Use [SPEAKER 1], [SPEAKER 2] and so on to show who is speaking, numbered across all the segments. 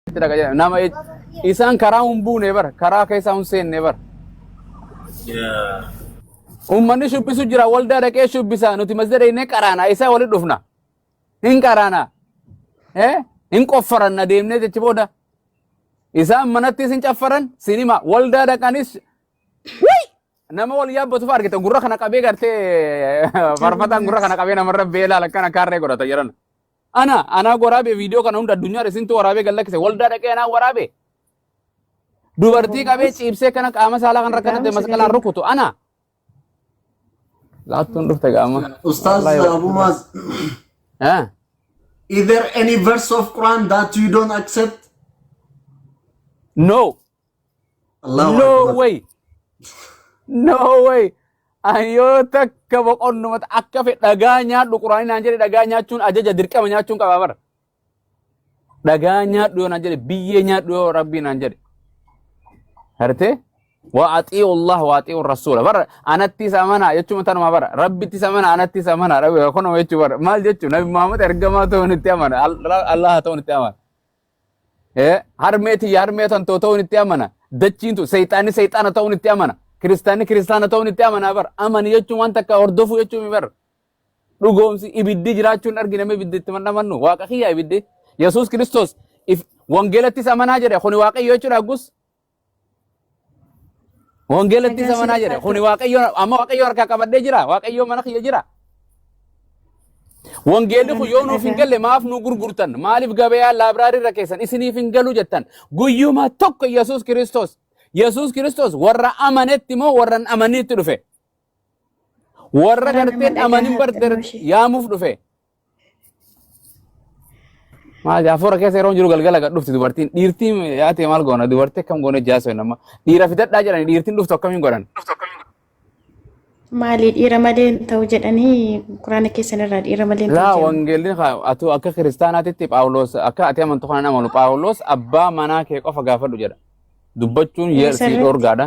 [SPEAKER 1] itti dhaqa jedhame. Nama ej- isaan karaa hin buune bara karaa keessaa hin seenne bara. Yeah. Uummanni shubbisu jira waldaa dhaqee shubbisa nuti masjida dhaqnee qaraana isaa walitti dhufna hin qaraana eh? hin qoffaranna deemnee jechi booda isaan manattis hin caffaran sinima waldaa dhaqanis Wai! Nama wal yaabbatu fa'aa argitan gurra kana qabee gartee farfataan gurra kana qabee namarra beelaa lakkana kaarree godhata jedhan. Ana anaa waraabee viidiyoo kana hunda addunyaadha isintu waraabee gad lakkise waldaa dhaqee anaa waraabee dubartii qabee ciibsee kana qaama saalaa kan rakkanate masqalaan rukutu ana laattuun dhufte qaama Ustaz Wallahi- Abu
[SPEAKER 2] Muaz, Eh, is there any verse of Quran that you don't accept?
[SPEAKER 1] no Allahu no akbar. way no way an yoo takka boqonnumata akka fedhe dhagaa nyaadhu quraanii naan jedhe dhagaa nyaachuun ajaja dirqama nyaachuun qaba bara dhagaa nyaadhu yoo naan jedhe biyyee nyaadhu yoo rabbii naan jedhe harte waa axii'u allah waa axii'u rasuula bara anattis amanaa jechuun tanuma bara rabbittis amanaa anattis amanaa rabbi kunuma jechuu bara maal jechuu nabi muhammad ergamaa ta'uun itti amana Al- allah ta'uun itti amana harmee tiyya harmee tan too ta'uun itti amana dachiin tun seexaanni seexaana ta'uun itti amana kiristaanni kiristaana ta'uun itti amana bar amani jechuun waan takka hordofuu jechuun bar dhugoomsi ibiddi jiraachuun argina mee ibiddi itti mandhamannu waaqa kiyya ibiddi yesuus kiristoos wangeelattis amanaa jedhe kuni waaqayyo jechuudha aggus Wangeelatti Nagaan zamanaa siif jedhe. haa Kuni ta'u. waaqayyo amma waaqayyo harkaa qabadhee jira. Waaqayyo mana kiyya jira. Wangeelli kun Amanna yoo nuuf hin nagaan. galle maaf nu gurgurtan? Maaliif gabayaa laabraarii irra keessan isiniif hin galu jettan? Guyyuma tokko Yesuus Kiristoos. Yesuus Kiristoos warra amanetti moo warra hin amanneetti dhufe? Warra Nagaan gartee hin nagaan amanin haa ta'u bartee ishee. yaamuuf dhufe. Maali hafuura keessa yeroo jiru galgala gad dhufti dubartiin dhiirtiin yaa ta'e maal goona dubartii akkam goone jaasoo nama dhiira fidadhaa jedhani dhiirtiin dhuftu akkamiin godhan.
[SPEAKER 3] Maali dhiira malee hin ta'u jedhanii quraana keessan irraa dhiira malee hin ta'u Laa jedhan. wangeelli atu
[SPEAKER 1] akka kiristaanaatitti Phaawulos akka ati amantu kana hin amalu Phaawulos abbaa manaa kee qofa gaafadhu jedha. Dubbachuun Ee, yersi sirriitti. dhoorgaadha.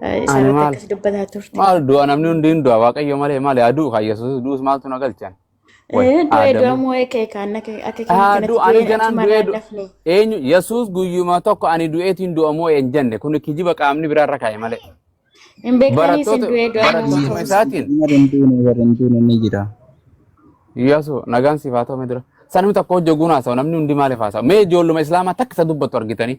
[SPEAKER 3] Ani Isaarratti maal akkas dubbataa turte. maal du'a namni hundi hin
[SPEAKER 1] du'a waaqayyo malee malee aduu kan yesuus du'us maaltu na galchan way Eh, Du'ee aadamuu
[SPEAKER 3] du'amuu eekee kaan akka akka keenya Haa kanatti du'a ani du'een ganaan
[SPEAKER 1] achumaan du'ee du- raallafne. eenyu yesuus guyyuma tokko ani du'eetiin du'amoo hin jenne kun kijiba qaamni biraa irra kaa'e malee Hin beektanii
[SPEAKER 3] isin barattoota du'ee du'amuu barattootuma Yesuus isaatiin
[SPEAKER 1] nama hin duune warra hin duune
[SPEAKER 4] ni jira.
[SPEAKER 1] yesu nagaan siif haa ta'u mee dura sanni tokko hojjoguu naasawu namni hundi maaliif haasawu mee ijoolluma islaamaa takka isa dubbattu argitanii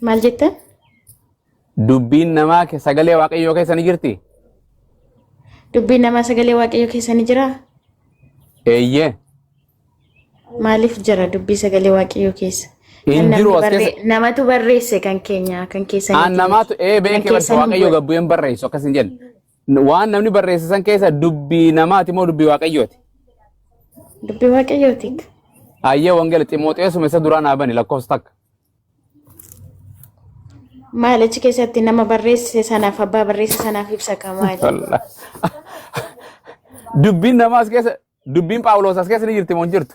[SPEAKER 3] Maal jettan?
[SPEAKER 1] Dubbiin namaa ke- sagalee waaqayyoo keessa ni jirti?
[SPEAKER 3] Dubbiin namaa sagalee waaqayyoo keessa ni jiraa?
[SPEAKER 1] Eeyyee.
[SPEAKER 3] Maaliif jira dubbii sagalee waaqayyoo keessa? Hin Kan namni jiru as barree-
[SPEAKER 1] keessa. Namatu
[SPEAKER 3] barreesse kan keenya kan keessa Aan namaatu ee beekee
[SPEAKER 1] barsa waaqayyoo gabbu'een barreessu akkas hin jenne. Waan namni barreesse san keessa dubbii namaati moo dubbii waaqayyooti?
[SPEAKER 3] Dubbii waaqayyooti. Ayyee
[SPEAKER 1] wangeela Ximooxeesuma isa duraa naa bani lakkoofsa takka.
[SPEAKER 3] Maal achi keessatti nama barreesse sanaaf abbaa barreesse sanaaf ibsa ka maali? Wallah.
[SPEAKER 1] Dubbiin namaa as keessa dubbiin Phaawuloos as keessa ni jirti moo hin jirtu?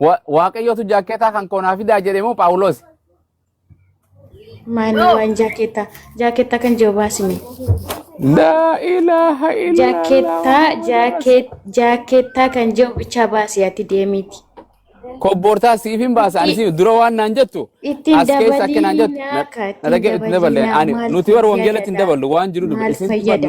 [SPEAKER 1] Wa- Waaqayyootu jaakkeetaa kan koonaa fidaa jedhe moo Phaawulosi?
[SPEAKER 3] Maanii No. waan jaakeettaa. Jaakeettaa kan jiru baasime. Laa
[SPEAKER 1] ilaaha illallah. Jaakeettaa jaakee- jaakeettaa
[SPEAKER 3] kan jiru bichaa baasi ati deemiiti. Kobboortaa
[SPEAKER 1] siif hin baasa ani siif dura waan naan jettu Ittiin as keessa akka
[SPEAKER 3] naan jettu
[SPEAKER 1] dabaliinaa ka na ittiin dhagee itti
[SPEAKER 3] daballe dabaliinaa ani
[SPEAKER 1] maal nuti warra wangeelatti hin fayyada? daballu waan jiru dubbi Maal isin fayyada?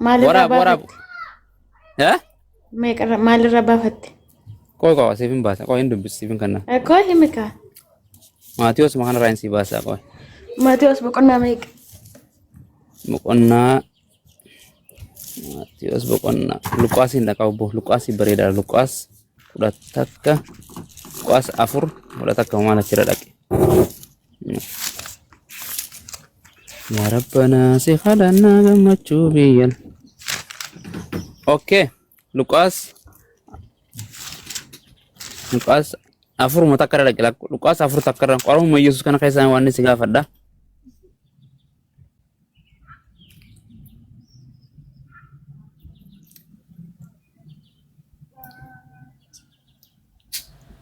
[SPEAKER 3] Maalirraa Waraab waraab. baafatte? Eh? Meeqarra- Maalirraa baafatte? Qoy qoy
[SPEAKER 1] siif hin baasa. Qoy hin dubbisi siif hin kanna. Eh, Koo himi kaa.
[SPEAKER 3] Maatiyoos
[SPEAKER 1] makaan irraa hin sii baasaa qoy. Maatiyoos boqonnaa
[SPEAKER 3] meeqa? Boqonnaa
[SPEAKER 1] Maatiyoos boqonnaa. Luqaas hin dhaqa obbo. Luqaas bareedaadha. Luqaas kudha takka. Luqaas afur kudha takka maal achirra dhaqe. yaa rabbanaa si kadhannaa gammachuu biyyan okay luqaas luqaas afuruma takka irra dhaqila luqaas afur takka irra qorumma yesus kana keessaa waan si gaafadha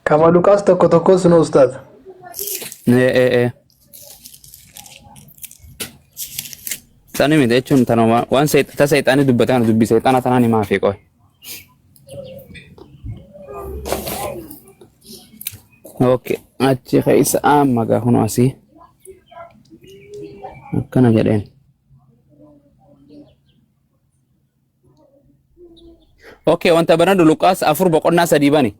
[SPEAKER 5] Kama Lukaas tokko tokko sunu ustaaz. Ee ee ee.
[SPEAKER 1] Sani miti jechuun tanuma waan seex- ta seexaanii dubbate kana dubbi seexaana tanaan himaa fi qoy. Okay. Achi keessa amma gaa kunoo asii. akkana jedheen okay wanta banadhu luqaas afur boqonnaa sadii bani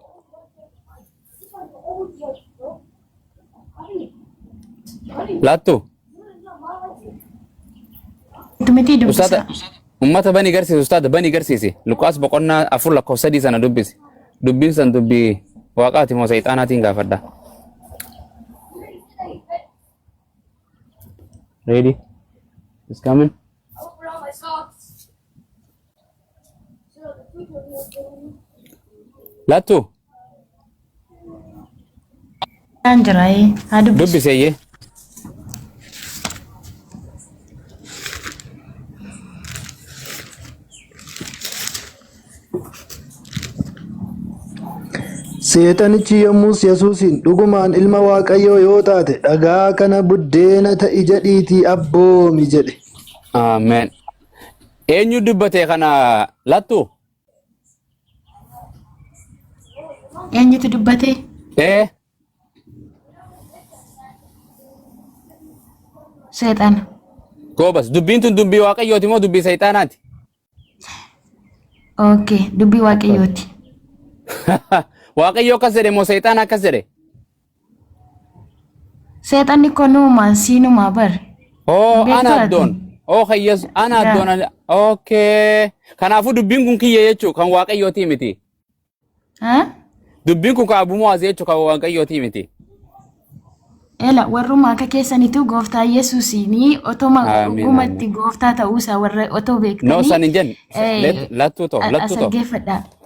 [SPEAKER 1] laattu
[SPEAKER 3] Dumitii dubbisa. Ustaata. Ummata bani
[SPEAKER 1] garsiisi ustaada bani garsiisi. Luqaas boqonnaa afur lakkoofsa sadii sana dubbisi. Dubbiin san dubbii waaqaati moo seexaanaatiin gaafadha. Ready? It's coming. Lattu.
[SPEAKER 3] Kan jira ee. Haa dubbisu. Dubbiseeyyee.
[SPEAKER 5] Seexanichi yommus Yesuusiin dhugumaan ilma Waaqayyoo yoo taate dhagaa kana buddeena ta'i jedhiitii abboomi jedhe. Ameen.
[SPEAKER 1] Eenyu dubbate kana lattu?
[SPEAKER 3] Eenyutu dubbatee? Ee Seexana. goobas
[SPEAKER 1] dubbiin tun dubbii waaqayyooti moo dubbii seexaanaati?
[SPEAKER 3] Okay, dubbii waaqayyooti. Waaqayyo
[SPEAKER 1] akkas jedhe moo seexaana akkas jedhe?
[SPEAKER 3] Seexanni koo nuumaan siinumaa bar. Oo Beektaa ana
[SPEAKER 1] ati? addoon. Oo kayyas ana Yaa. addoon. ana- Okay. Kanaafuu dubbiin kun kiyya jechuu kan waaqayyootii miti. Ha? Dubbiin kun kan abumaas jechuu kan waaqayyootii miti.
[SPEAKER 3] Ela warruma akka keessanitu gooftaa Yesuusiini otoma Amiin, dhugumatti gooftaa ta'uusaa warra otoo No beektanii san hin jenne.
[SPEAKER 1] eh, Let- Lattuu too. as Lattuu too. dhaggeeffadhaa.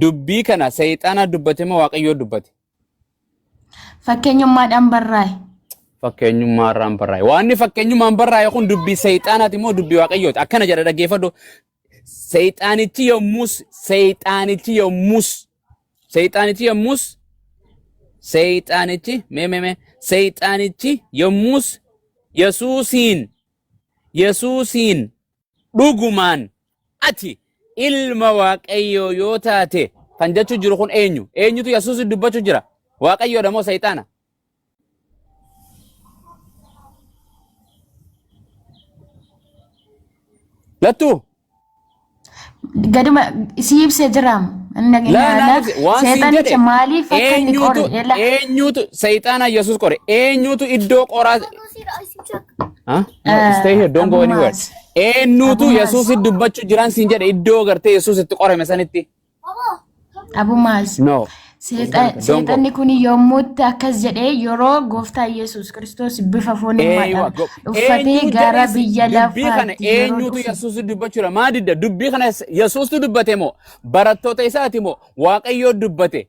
[SPEAKER 1] Dubbii kana seexaana dubbate moo waaqayyoo dubbate? Fakkeenyummaadhaan
[SPEAKER 3] barraa'e. Fakkeenyummaa
[SPEAKER 1] irraan barraa'e. Waanni fakkeenyummaan barraa'e kun dubbii seexaanaati moo dubbii waaqayyooti? Akkana jedha dhaggeeffadhu. Seexaanichi yommus seexaanichi yommus seexaanichi yommus seexaanichi mee mee mee seexaanichi yommus Yesuusiin Yesuusiin dhugumaan ati ilma waaqayyoo yoo taate kan jechuu jiru kun eenyu eenyutu yesuus dubbachuu jira waaqayyoodha moo seexaana lattuu
[SPEAKER 3] Gaduma si ibsee jira. Inni Laa dhageenya naa laa ibsi. Waan siin seexanicha jedhe maaliif akka inni eenyutu qore eela. eenyutu
[SPEAKER 1] seexaana yesuus qore eenyutu iddoo qoraa Huh? No, Ah, stay here, don't go anywhere. Abumaas. Eenyutu Abumaas. Yesuus dubbachu jiraan siin jedhe iddoo gartee Yesuus itti qorame sanitti.
[SPEAKER 3] Abumaas. No. Seexan-
[SPEAKER 1] Don't go. Seexanni
[SPEAKER 3] kun yommuutti akkas jedhee yeroo gooftaa Yesuus Kiristoos bifa Eeywa, foonummaadhaan go- uffatee eenyu gara jedhes biyya dubbii kana lafaatti yeroo eenyutu dhufu Yesuus
[SPEAKER 1] dubbachuu dha? Maa didda? Dubbii kana Yesuustu dubbate moo? Barattoota isaati moo? Waaqayyoo dubbate.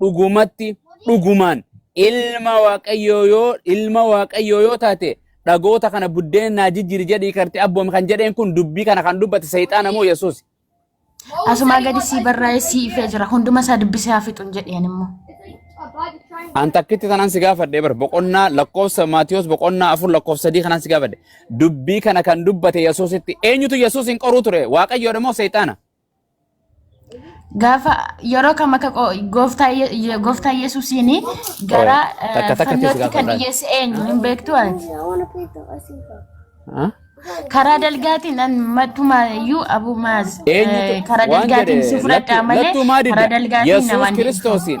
[SPEAKER 1] dhugumatti dhugumaan ilma waaqayyoo yoo ilma waaqayyoo yoo taate dhagoota kana buddeena naa jijjiiri jedhii karte abboomi kan jedheen kun dubbii kana kan dubbate seexaana moo yesuus Asumaa
[SPEAKER 3] gadi sii barraa'ee sii ifee jira. Hunduma isaa dubbisee haa fixuun jedheen immoo.
[SPEAKER 1] an takkitti tanan si gaafadhe bar boqonnaa lakkoofsa maatiyoos boqonnaa afur lakkoofsa sadii kanan si gaafadhe dubbii kana kan dubbate yesuusitti eenyutu yesuus hin qoruu ture waaqayyoodha moo seexaana
[SPEAKER 3] Gaafa yeroo kam akka qo- gooftaa Ye- Ye- gooftaa Yesuusiin gara eh, Takka takka keessa fannootti kan gaafadhaa. dhiyeesse eenyu hin beektu ati. I want to play the Aussie ball. Huh? Karaa dalgaatiin an mattumaa iyyuu Abu Maaz eh, Eenyutu karaa waan dalgaatiin jedhe si fudhadhaa lattu- malee lattuu maa karaa didda? dalgaatiin Yesuus namaan hin Kiristoosiin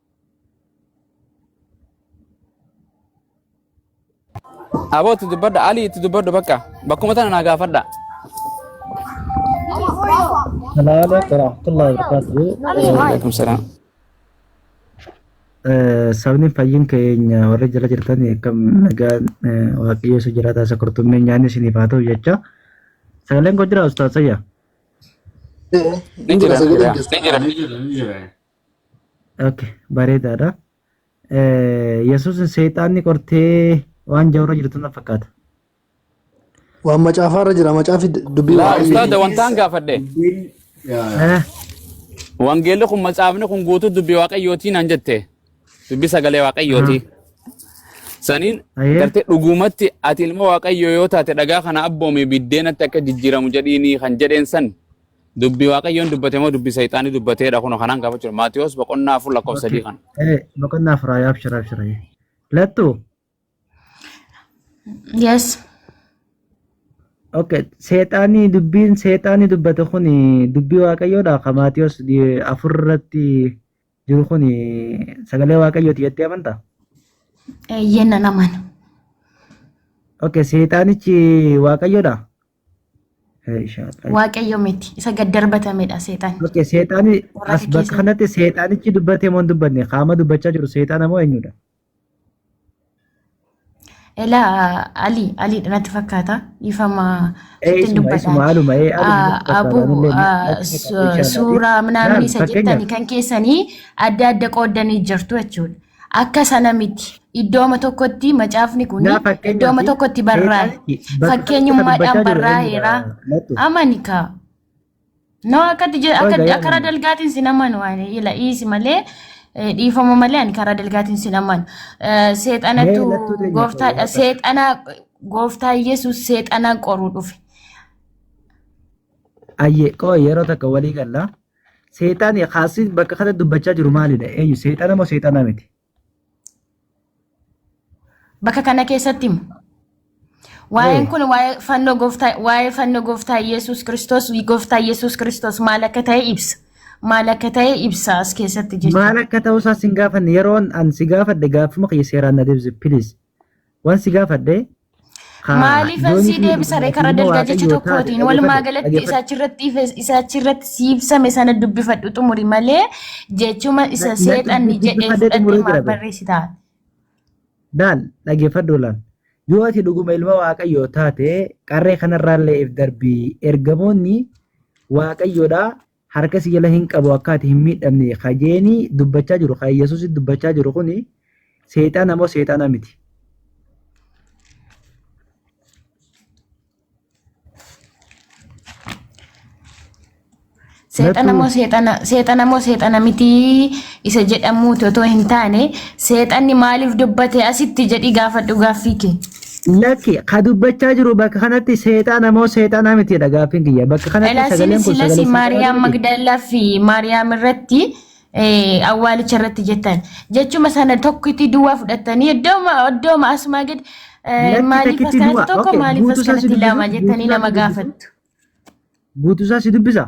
[SPEAKER 1] Aboo itti dubbadha. Alii itti dubbadhu bakka. Bakkuma tana naa gaafadha.
[SPEAKER 4] Salaam alaikum warahmatullahi wabarakatuh.
[SPEAKER 1] Waalaikum
[SPEAKER 4] salaam. Eh, Sabni fayyin keenya warri jala jirtan akkam nagaan eh, waaqayyo isa jiraataa isa kurtummeen nyaanni isiniif haa ta'u jecha. Sagaleen koo jira ustaas Sayyaa.
[SPEAKER 1] Ni jira. Ni jira. Ni jira. Ni jira.
[SPEAKER 4] Okay, bareedaadha. Yesuusin seexaanni qortee waan jawra jirtu na fakkaata.
[SPEAKER 5] Waan macaafaa irra jira. Macaafi dubbii Laa waaqayyooti. ustaada wantaan
[SPEAKER 1] gaafadhe. Dubbiin yaa, yaa. Eh, Wangeelli kun macaafni kun guutuu dubbii waaqayyootii naan jette. Dubbii sagalee waaqayyootii. Saniin Ayee. gartee dhugumatti ati ilma waaqayyoo yoo taate dhagaa kana abboomi biddeenatti akka jijjiiramu jedhiini kan jedheen san Dubbi Waaqayyoon dubbate moo dubbi Seexaanii dubbateedha kunoo kanaan gaafachuu dha. Maatiyoos boqonnaa afur lakkoofsa sadii Okay. kana. Eh, boqonnaa afur haa
[SPEAKER 4] abshira abshira. Lattu.
[SPEAKER 3] Yes.
[SPEAKER 4] Okay. Seexaanii dubbiin seexaanii dubbate kun dubbii waaqayyoodha. Kan Maatiyoos di- afur irratti jiru kun sagalee waaqayyooti jettee amantaa? Eeyyeen
[SPEAKER 3] nan amana.
[SPEAKER 4] Okay. Seexaanichi waaqayyoodha. Hey, shaaqaa.
[SPEAKER 3] Waaqayyo miti. Isa gad darbatamedha seexan. Okay, seexaani Warra
[SPEAKER 4] as bakka gaggeessan. kanatti seexaanichi dubbatee moo hin dubbanne qaama dubbachaa jiru seexaana moo eenyudha? Ela
[SPEAKER 3] Ali Ali natti fakkaata dhiifama Ee sitti isuma dubbadha. isuma haaluma
[SPEAKER 4] ee Ali natti fakkaata Abu
[SPEAKER 3] anillee natti fakkaata suuraa minaamin isa jettani kan keessanii
[SPEAKER 4] adda
[SPEAKER 3] adda qooddanii jirtu jechuudha. Akka sana miti. Iddooma tokkotti macaafni kun Naa fakkeenyaaf iddooma tokkotti
[SPEAKER 4] barraa'e.
[SPEAKER 3] seexanni bakka tokkotti Fakkeenyummaadhaan
[SPEAKER 4] dubbachaa
[SPEAKER 3] jiru barraa'eera.
[SPEAKER 4] eenyudha?
[SPEAKER 3] Lattu. Amani
[SPEAKER 4] kaa.
[SPEAKER 3] No akkatti je- Waan akka gaarii akka karaa amanu.
[SPEAKER 4] dalgaatiin sin
[SPEAKER 3] amanu ani ila dhiisi malee eh, dhiifama malee ani karaa dalgaatiin sin amanu. Eh, Mee Seexanatu lattuu teenya gooftaadha.
[SPEAKER 4] fayyadama. Seexana
[SPEAKER 3] gooftaa Yesuus seexanaan qoruu dhufe.
[SPEAKER 4] Ayyee qoo yeroo takka walii galla. Seexaani kaasii bakka kana dubbachaa jiru maalidha? Eenyu seexana moo seexana miti?
[SPEAKER 3] Bakka kana keessatti himu. Waa'een kun waa'ee fannoo gooftaa waa'ee fannoo gooftaa Yesuus Kiristoos gooftaa Yesuus Kiristoos maal akka ta'e ibsa. Maal akka ta'e ibsa as keessatti jechuudha. Maal akka ta'uusaa sin
[SPEAKER 4] gaafanne yeroon an si gaafadhe gaaffuma kiyya seeraan na deebise please. Waan si gaafadhe haa Maaliif
[SPEAKER 3] joonii sii fi deebisa ree karaa ilma
[SPEAKER 4] dalgaa jecha
[SPEAKER 3] Waaqayyoo taate tokkootiin walumaa
[SPEAKER 4] dhaggeeffadhu
[SPEAKER 3] galatti
[SPEAKER 4] dhaggeeffadhu. isa
[SPEAKER 3] achirratti ife- isa achirratti si ibsame sana dubbifadhu xumuri malee jechuma isa Lakki seexanni jedhee dubbifadhee
[SPEAKER 4] fudhatte
[SPEAKER 3] xumuruu maaf jira bee.
[SPEAKER 4] barreessita. Daal dhaggeeffadhu laal. Yoo ati dhuguma ilma Waaqayyoo taate qarree kanarraallee if darbii ergamoonni Waaqayyoodhaa harka si jala hin qabu akka ati hin miidhamne ka jeeni dubbachaa jiru ka Yesuus dubbachaa jiru kuni seexaana moo seexaana miti. Seexana
[SPEAKER 3] moo seexana seexana moo seexana miti isa jedhamuuti otoo hin taane seexanni maaliif dubbate asitti jedhi gaafadhu gaaffii kee. Lakki ka
[SPEAKER 4] dubbachaa jiru bakka kanatti seexaana moo seexaanaa miti jedha gaaffiin kiyya. Bakka kanatti Elaa sagaleen sinis kun silas sagalee seexaanaa Maariyaam miti.
[SPEAKER 3] Magdaalaa fi Maariyaam irratti eh, awwaalicha irratti jettan. Jechuma sana tokkitti duwwaa fudhattanii iddooma iddooma asumaa gad eh, Lakki maaliif as
[SPEAKER 4] takkitti kanatti du'a.
[SPEAKER 3] tokko Okay, maaliif as
[SPEAKER 4] guutuusaa si
[SPEAKER 3] kanatti lama
[SPEAKER 4] dubbisa.
[SPEAKER 3] jettanii
[SPEAKER 4] nama
[SPEAKER 3] Guutuusaa si
[SPEAKER 4] dubbisa.
[SPEAKER 3] gaafattu.
[SPEAKER 4] Guutuusaa si dubbisa.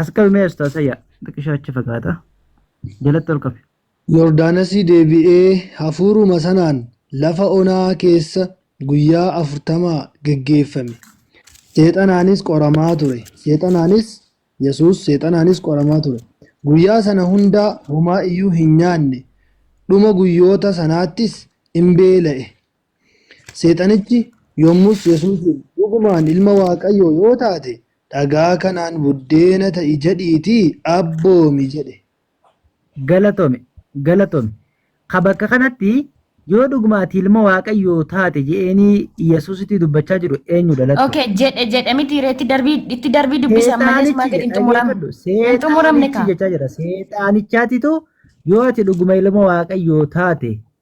[SPEAKER 4] Asqabi mee ustaasa yaa xiqqishaa achi fagaata jalatti ol qabe. Yordaanasii
[SPEAKER 5] deebi'ee hafuuruma sanaan lafa onaa keessa guyyaa afurtamaa geggeeffame. Seexanaanis qoramaa ture. Seexanaanis Yesuus seexanaanis qoramaa ture. Guyyaa sana hundaa homaa iyyuu hin nyaanne. Dhuma guyyoota sanaattis in beela'e. Seexanichi yommus Yesuusiin, Dhugumaan ilma Waaqayyoo yoo taate, dhagaa kanaan buddeena ta'i jedhiitii abboomi jedhe. Galatomi
[SPEAKER 4] galatomi ka bakka kanatti yoo dhuguma ati ilma waaqayyoo taate je'eenii Yesuusitti dubbachaa jiru eenyu dhalattu? Okay, jedhe jedhe
[SPEAKER 3] miti ree itti darbii itti darbii dubbisa ammallee sumaa gadi hin xumuramne. Hin xumuramne Seexaanichi kaa. jechaa jira.
[SPEAKER 4] Seexaanichaatitu yoo ati dhuguma ilma waaqayyoo taate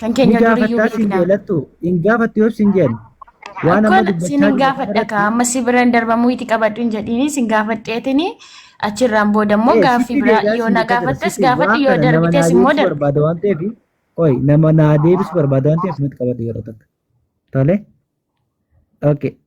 [SPEAKER 3] Kan Ni keenya duriyyuu
[SPEAKER 4] gaafattaa siin
[SPEAKER 3] beekna. jeelattu.
[SPEAKER 4] Hin
[SPEAKER 3] gaafattu
[SPEAKER 4] yoo siin jeen. Waan amma Akkon siin dubbachaa hin gaafadha jirtu
[SPEAKER 3] kaa amma si biraan darbamuu itti qabadhu hin jedhiini siin gaafadheetini achirraan booda immoo Eh, gaaffii sitti biraa deebi'aa yoo siin na jeeqaa jira. gaafattes Sitti gaafadhu waan yoo kana nama naa darbites immoo deebisu darbi. barbaada waan ta'eef.
[SPEAKER 4] Qoy nama naa deebisu barbaada waan ta'eef nuti qabadhu yeroo takka. Tole? Okay.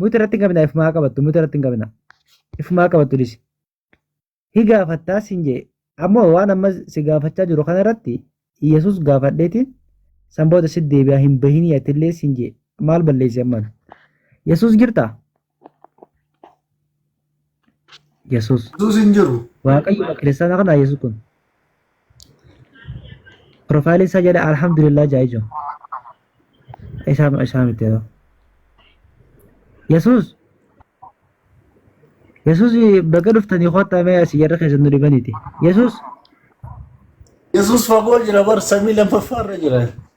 [SPEAKER 4] Muti irratti hin qabina ifumaa qabattu muti irratti hin qabina ifumaa qabattu dhisi. Hi gaafattaa siin jee ammoo waan amma si gaafachaa jiru kana irratti Yesuus gaafadheetiin san booda si deebi'aa hin bahinii atillee siin jee maal balleessi ammaan. Yesuus jirtaa? Yesus. Yesuus hin jiru.
[SPEAKER 2] Waaqayyo kiristaana
[SPEAKER 4] kana Yesus kun. Profaayilii isaa jedha alhamdulillah jaa ijo. Isaa isaa miti yoo. Yesus. Yesus baga dhuftanii kottaa mee asii jarra keessan nu dhibaniiti. Yesus.
[SPEAKER 2] Yesuus fagoo jira bar samii lammaffaarra jira.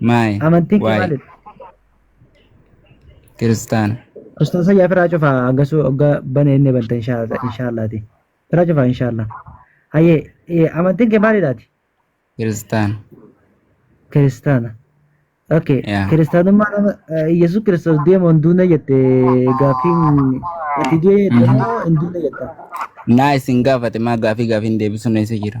[SPEAKER 1] Maay. Amantiin kee Waay. maalidha? Kiristaana. Ustaaza yaa firaa
[SPEAKER 4] cufaa hangasuu ogga bane inni banta inshaallaati. Firaa cufaa inshaallah. Hayyee eh, amantiin kee maalidhaati? Kiristaana. Kiristaana. Okay. Yaa. Kiristaanummaa
[SPEAKER 1] nama
[SPEAKER 4] eh, Yesuus Kiristoos deemu hin duune jette gaaffiin itti du'e jette Mhm. immoo hin duune jetta. Naa isin
[SPEAKER 1] gaafate maa gaafii gaafiin deebisuun eessa jira?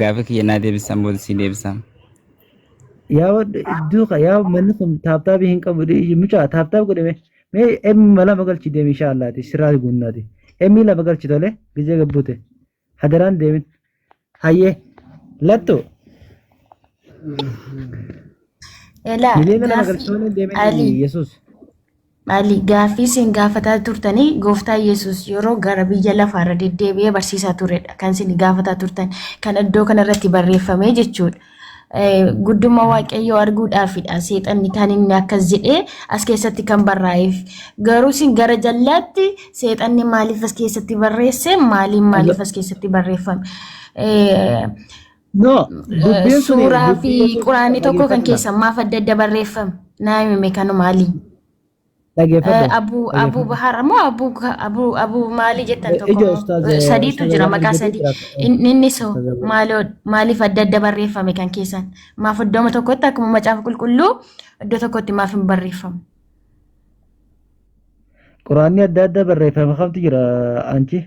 [SPEAKER 1] Gaafii kiyya naa deebisaan booda sii deebisaa.
[SPEAKER 4] Yaa wadda iddoo ka yaa manni kun taaptaabii hin qabu dhiiyi mucaa taaptaab godhe mee mee emmi lama galchi deemi inshaa Allaati sirraa guunnaati emmi lama galchi tole gizee gabbute hadaraan deemin hayyee lattu Elaa miliyoona lama gaafii galchi tole deemin Ali yesus Maali
[SPEAKER 3] gaaffii isin gaafataa turtanii gooftaa Yesuus yeroo gara biyya lafaarra deddeebi'ee barsiisaa turedha kan isin gaafataa turtan kan iddoo kanarratti barreeffamee jechuudha. Guddummaa waaqayyoo arguudhaafidha seexanni kan inni akkas jedhee as keessatti kan barraa'eef garuu isin gara jallaatti seexanni maaliif as keessatti barreesse maaliin maaliif as keessatti barreeffame.
[SPEAKER 4] No, dubbiin sun Suuraa fi dubbii Yesuus quraanni
[SPEAKER 3] tokko kan dhaggeeffadhu keessan maaf adda adda barreeffame? Naa himime kanu maali? dhaggeeffadhu Abu Abu Bahar moo Abu Abu Abu maali jettan tokko Ija moo? ustaaz Eh, sadiitu ustaaz jira Abaan maqaa Ijoollee sadii. jira tokko. In- Inni so Ustaaz Abaan. maaloo maaliif adda adda barreeffame kan keessan? Maaf iddooma tokkotti akkuma macaafa qulqulluu iddoo tokkotti maaf hin barreeffamu?
[SPEAKER 4] Quraanni adda addaa barreeffame kamtu jira anchi?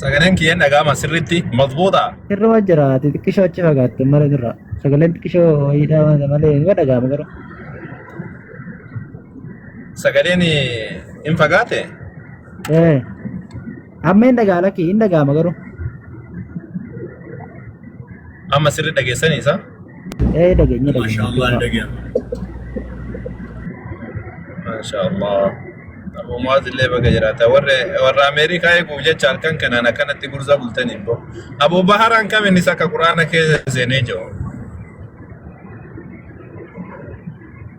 [SPEAKER 6] Sagaleen kiyya dhaga'ama sirriitti mazbuuta. Irra waan jira ati
[SPEAKER 4] xiqqishoo achi fagaatte malee irra sagaleen xiqqishoo ho'iidhaa waan malee ni dhaga'ama garuu.
[SPEAKER 6] Sagaleen hin fagaate. Ee
[SPEAKER 4] amma hin dhaga'ama lakkii hin dhaga'ama garuu.
[SPEAKER 6] Amma sirri dhageessanii isaa. Eh, dagenya, dagenya.
[SPEAKER 4] Masya Allah
[SPEAKER 6] dagenya. Masya Allah. Abu Muaz illee baga jiraata. Warri warra Ameerikaa eeguuf jecha halkan kanaan akkanatti gurza bultanii boo. Abu Baharaan kam innis akka Quraana keessa seenee jiru.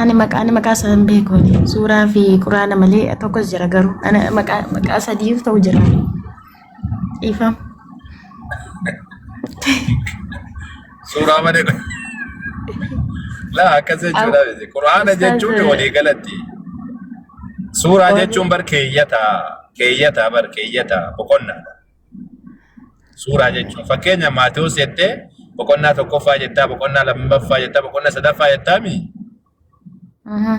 [SPEAKER 3] Ani maqaa ani maqaa isaa hin beeku. ani. Suuraa fi quraana malee tokkos jira garuu. Ani maqaa maqaa sadiif ta'u jira. Dhiifama.
[SPEAKER 6] Suuraa malee kun. Laa akkas jechuudha. Quraana jechuun walii galatti. Suuraa jechuun bar keeyyata. Keeyyata bar keeyyata boqonnaadha. Suuraa jechuun fakkeenya Maatewos jettee boqonnaa tokkoffaa jettaa boqonnaa lammaffaa jettaa boqonnaa sadaffaa jettaa mii? Aha.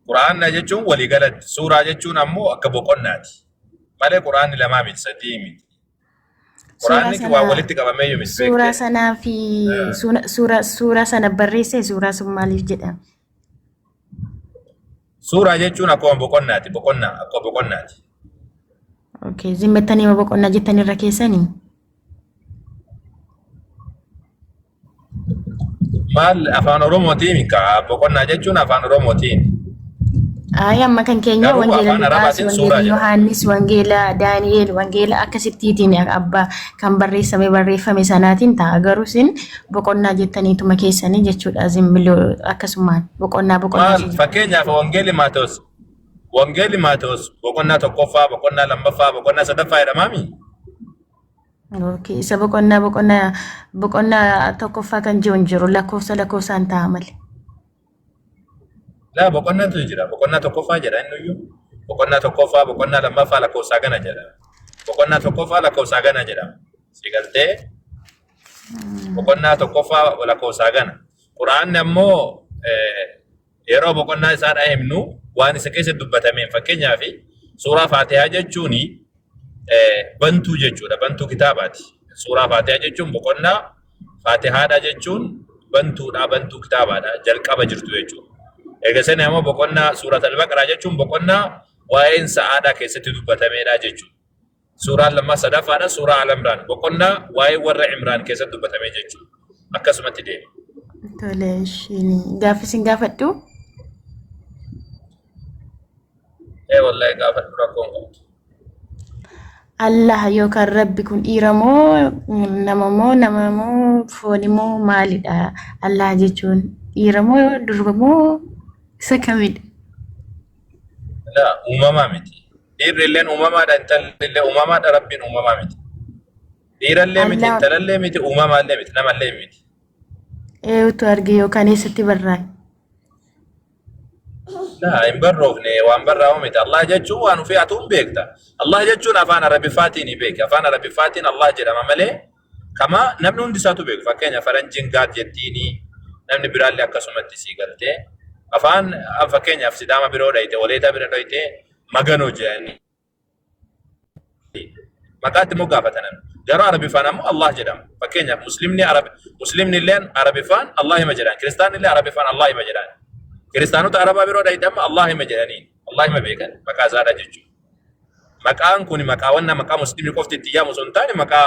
[SPEAKER 6] Quraanna jechuun waliigalatti suuraa jechuun ammoo akka boqonnaati. Malee quraanni lamaa miti sadii miti. Quraanni Suuraa waa sana- walitti qabamee yoo miti Suuraa beektee. sanaa fi Eh.
[SPEAKER 3] suuna- suura suura sana barreesse suuraa sun maaliif jedhama?
[SPEAKER 6] Suuraa jechuun akkuma boqonnaati. Boqonnaa akkuma boqonnaati.
[SPEAKER 3] Okay. Zimmettanii hima boqonnaa jettan irra keessanii?
[SPEAKER 6] Maal afaan Oromootiin kaa boqonnaa jechuun afaan Oromootiin. Ayi
[SPEAKER 3] amma kan keenya Garuu wangeela afaan Luqaas, Arabaatiin suuraa wangeela jedha. Yohaannis, wangeela Daani'eel, wangeela akkasittiitiin abbaa kan barreessame barreeffame sanaatiin ta'a. Garuu isin boqonnaa jettanii tuma keessanii jechuudha zimmiloo akkasumaan boqonnaa boqonnaa maal jechuudha. fakkeenyaaf
[SPEAKER 6] wangeelli maatoos wangeelli maatoos boqonnaa tokkoffaa boqonnaa lammaffaa boqonnaa sadaffaa jedhamaami
[SPEAKER 3] Okay. Isa boqonnaa boqonnaa boqonnaa tokkoffaa kan jiru hin jiru lakkoofsa lakkoofsaan ta'a malee.
[SPEAKER 6] Laa boqonnaatu jira. Boqonnaa tokkoffaa jedha inni iyyuu. Boqonnaa tokkoffaa, boqonnaa lammaffaa lakkoofsaa gana jedha. Boqonnaa tokkoffaa lakkoofsaa gana jedha. Si galtee boqonnaa tokkoffaa lakkoofsaa gana. Quraanni ammoo eh, yeroo boqonnaa isaa dha himnu waan isa keessa dubbatameen fakkeenyaaf suuraa faatihaa jechuun bantuu jechuudha. Bantuu kitaabaati. Suuraa Faatihaa jechuun boqonnaa Faatihaadha jechuun bantuudha, bantuu kitaabaadha, jalqaba jirtu jechuudha. Erga sani ammoo boqonnaa suuraa Al-Baqaraa jechuun boqonnaa waa'een sa'aadaa keessatti dubbatameedha jechuudha. Suuraan lammaa sadaffaadha suuraa Al-Imraan boqonnaa waa'ee warra Imraan keessatti dubbatame jechuudha. Akkasumatti deema. Tole,
[SPEAKER 3] ishiin gaaffii isin gaafadhu.
[SPEAKER 6] Ee wallahi gaafadhu rakkoon qabdu. Allah
[SPEAKER 3] yookaan rabbi kun dhiira moo nama moo nama moo fooni moo maalidha Allah jechuun dhiira moo durba moo isa kamidha
[SPEAKER 6] La uumamaa miti. Dhiirri illeen uumamaadha intalli illee uumamaadha rabbiin uumamaa miti. Dhiirallee miti Allah intalallee miti uumamaallee miti namallee miti. eeyutu
[SPEAKER 3] arge yookaan eessatti barraa'e
[SPEAKER 6] Laa hin barroofne waan barraa'u miti. Allah jechuun waan ofii atuun beekta. Allah jechuun afaan Arabiffaatiin hin beeki. Afaan Arabiffaatiin Allah jedhama malee kama namni hundi isaatu beeku. Fakkeenya faranjiin gaad jettiini namni biraallee akkasumatti sii galtee. Afaan fakkeenyaaf sidaama biroo dhayite waleetaa bira dhayite maganoo jedhanii maqaa itti moggaafatan garuu arabiffaan ammoo Allah jedhama fakkeenyaaf muslimni arab muslimni illeen arabiffaan Allah hima jedhan kiristaanni illee arabiffaan Allah hima jedhan kiristaanota arabaa biroo dhayidhamma Allah hima jedhanii Allah hima beekan maqaa isaadha jechuudha maqaan kun maqaawwan nama maqaa muslimni qofti itti yaamu osoo hin taane maqaa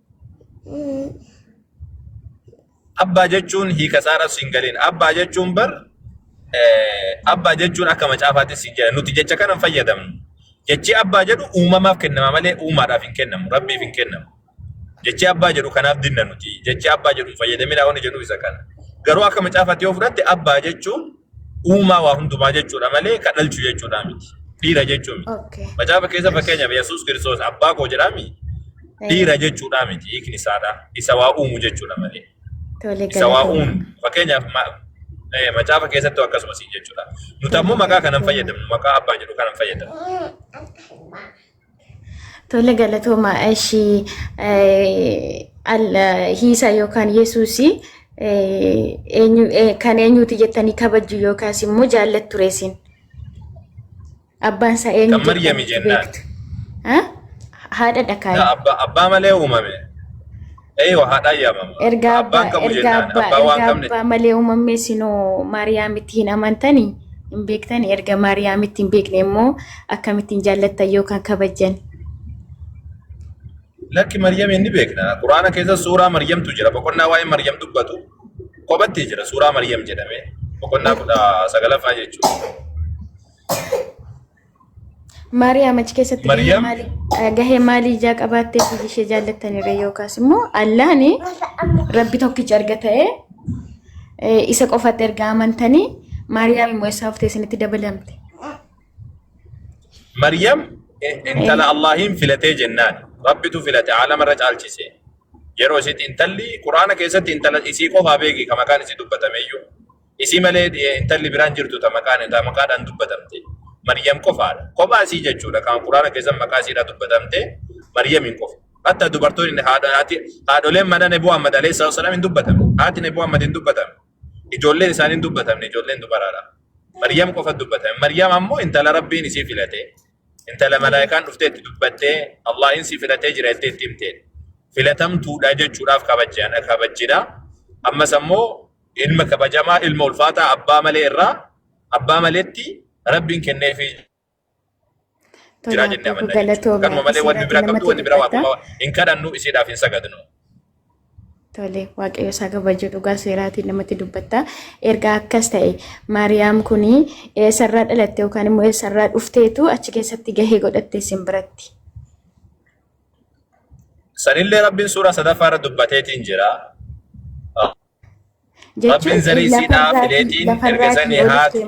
[SPEAKER 6] Abbaa jechuun hiika isaarras hin galin. Abbaa jechuun bar abbaa jechuun akka macaafaattis hin jedhan. Nuti jecha kana hin fayyadamnu. Jechi abbaa jedhu uumamaaf kennama malee uumaadhaaf hin kennamu. Rabbiif hin kennamu. Jechi abbaa jedhu kanaaf dinna nuti. Jechi abbaa jedhu hin fayyadaminaa wanni jedhu isa kana. Garuu akka macaafaatti yoo fudhatte abbaa jechuun Uumaa waa hundumaa jechuudha malee ka dhalchu jechuudha miti. Dhiira jechuu miti. Okay. Macaafa keessa Yes. fakkeenyaaf Yesuus Kiristoos abbaa koo jedhaa miti. Eh, Dhiira jechuudha miti hiikni isaadha. Isa waa uumu jechuudha malee. Tole Isa waa uumu. galatoomaa. Fakkeenyaaf ma- eh, macaafa keessatti akkasumas jechuudha. Nuti ammoo maqaa kanan fayyadamnu maqaa abbaa jedhu kanan fayyadamnu.
[SPEAKER 3] Tole galatooma ishii hiisa yookaan yesuusii kan eenyuuti jettanii kabajju yookaas immoo jaallattu reesin. Abbaan isaa eenyu
[SPEAKER 6] Kan Maryami jennaan.
[SPEAKER 3] Haadha dhakaa. Abbaa malee
[SPEAKER 6] uumame. Eeyyoo haadhaa yaamama. Ergaa Abbaan abbaa qabu ergaa
[SPEAKER 3] jennaan abbaa
[SPEAKER 6] abbaa waan ergaa qabne abbaa malee uumamni
[SPEAKER 3] isinoo maariyaamitti hin amantani hin beektani erga maariyaamitti hin beekne immoo akkamittiin jaallattan yookaan kabajjan
[SPEAKER 6] lakki Maryam inni beekna. Quraana keessa suuraa Maryamtu jira. Boqonnaa waa'ee Maryam dubbatu kophattee jira. Suuraa Maryam jedhamee boqonnaa kudha sagalaffaa jechuudha.
[SPEAKER 3] Maariyaam achi keessatti gahee Maariyaam- maalii eh, gahee maalii ijaa qabaattee fi ishee jaallattanirra yookaas immoo Allaahni rabbi tokkicha erga ta'ee eh, isa qofatti erga amantanii Maariyaam immoo eessaa haftee isinitti dabalamte.
[SPEAKER 6] Maryam eh, intala Allaahiin filatee jennaan rabbitu filate aalama irra caalchise. Yeroo isitti intalli Quraana keessatti intala isii qofaa beeki kan maqaan isii dubbatameyyuu. Isii malee eh, intalli biraan jirtu ta maqaan ta maqaadhaan dubbatamte. Maryam qofaadha. Kophaa isii jechuudha. Kan Quraana keessan maqaa isiidhaa dubbatamte Maryamiin qofa. Hatta dubartoonni haadha- haati- haadholeen mana Nabi Muhammad alayhi salaatu wasalaam hin dubbatamne. Haati Nabi Muhammad hin dubbatamne. Ijoolleen isaanii hin dubbatamne. Ijoolleen dubaraadha. Maryam qofa dubbatame. Maryam ammoo intala Rabbiin isii filate. Intala malaayikaan dhuftee itti dubbattee Allahin si filatee jira jettee itti himte. Filatamtuudha jechuudhaaf kabajjaan kabajjidha. Ammas ammoo ilma kabajamaa ilma ulfaataa abbaa malee irraa abbaa maleetti rabbiin kenneefii Tole jiraa jennee abbaa koo amanna jechuudha. galatoomi Kanuma malee wanni akkasirratti biraa qabdu namatti wanni biraa dubbata. waaqummaa hin kadhannu isiidhaaf hin sagadnu.
[SPEAKER 3] Tole waaqayyo isaa kabajuu dhugaa seeraatiin namatti dubbatta. Erga akkas ta'e Maariyaam kun eessarraa dhalatte yookaan immoo eessarraa dhufteetu achi keessatti gahee godhatte isin biratti.
[SPEAKER 6] Sanillee rabbiin suuraa sadaffaa irra dubbateetiin jira. Rabbiin zarii isiidhaa fileetiin erga sanii haati.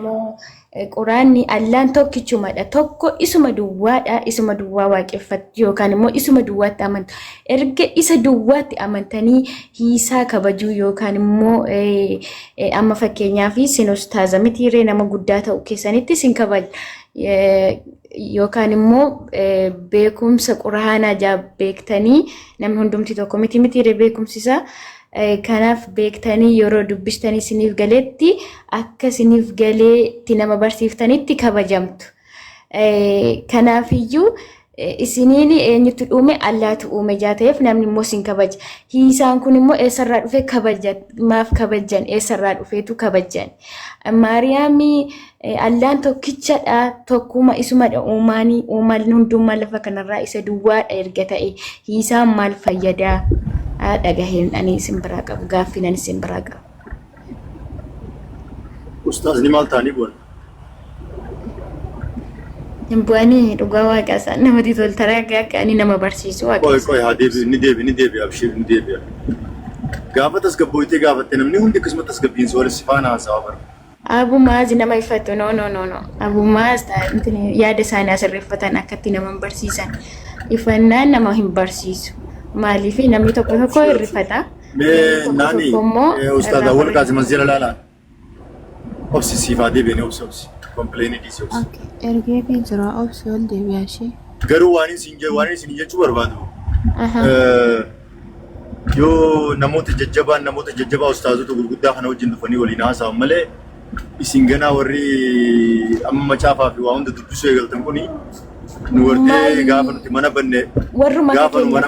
[SPEAKER 6] Quraanni
[SPEAKER 3] allaan tokkichumadha tokko isuma duwwaadha isuma duwwaa waaqeffattu yookaan immoo isuma duwwaatti amantu erga isa duwwaatti amantanii hiisaa kabajuu yookaan immoo amma fakkeenyaaf sin ustaaza mitiiree nama guddaa ta'u keessanitti sin kabaja yookaan immoo beekumsa quraanaa jaa beektanii namni hundumti tokko miti mitiiree beekumsisaa Kanaaf beektanii yeroo dubbistanii isiniif galetti akka isiniif galeetti nama barsiiftanitti kabajamtu. Kanaafiyyuu isiniin eenyutu uume allaatu uume jaa ta'eef namni immoo isin kabaja. Hiisaan kun immoo eessarraa dhufe kabaja maaf kabajan eessarraa dhufeetu kabajan. Maariyaami Allaan tokkichadha, tokkuma isumadha uumaanii, uumaan hundummaa lafa kanarraa isa duwwaadha erga ta'e hiisaan maal fayyadaa? Dhagaheen ani isin biraa qabu, gaaffiin ani isin biraa qabu.
[SPEAKER 2] Ustaazni maal ta'anii bu'an?
[SPEAKER 3] Hin bu'anii dhugaa waaqa isaan namatti tolta raga akka ani nama barsiisu waaqa Qoy qoy haa deebisu ni deebi
[SPEAKER 2] ni deebi abshiir ni deebi'a. Gaafa tasgabbooytee gaafatte namni hundi akkasuma tasgabbiin soolis si faana haasawaa bara. Abu Maaz nama
[SPEAKER 3] iffatu no no no no Abu Maaz ta- intini yaada isaanii asirreeffatan akkatti nama hin barsiisan ifannaan nama hin barsiisu maaliif namni tokko tokko Abshiir abshiir. hirrifata namni Mee tokko naani
[SPEAKER 2] tokko immoo ustaaza irraa wal barreessa. qaasi masjira laala. Obsi siif haa deebi'anii obsi obsi. Kompileeni dhiisi obsi. Okay. Ergeefii jira
[SPEAKER 7] obsi ol deebi'a ishee. Garuu waan isin
[SPEAKER 2] je- waan isin jechuu barbaadu Aha. eh, yoo namoota jajjabaan namoota jajjabaa ustaazota gurguddaa kana wajjin dhufanii waliin haasa'an malee isin ganaa warri amma macaafaa fi waa hunda dubbisuu eegaltan kuni nu wartee Maali? gaafa nuti mana banne Warruma gaafa nu mana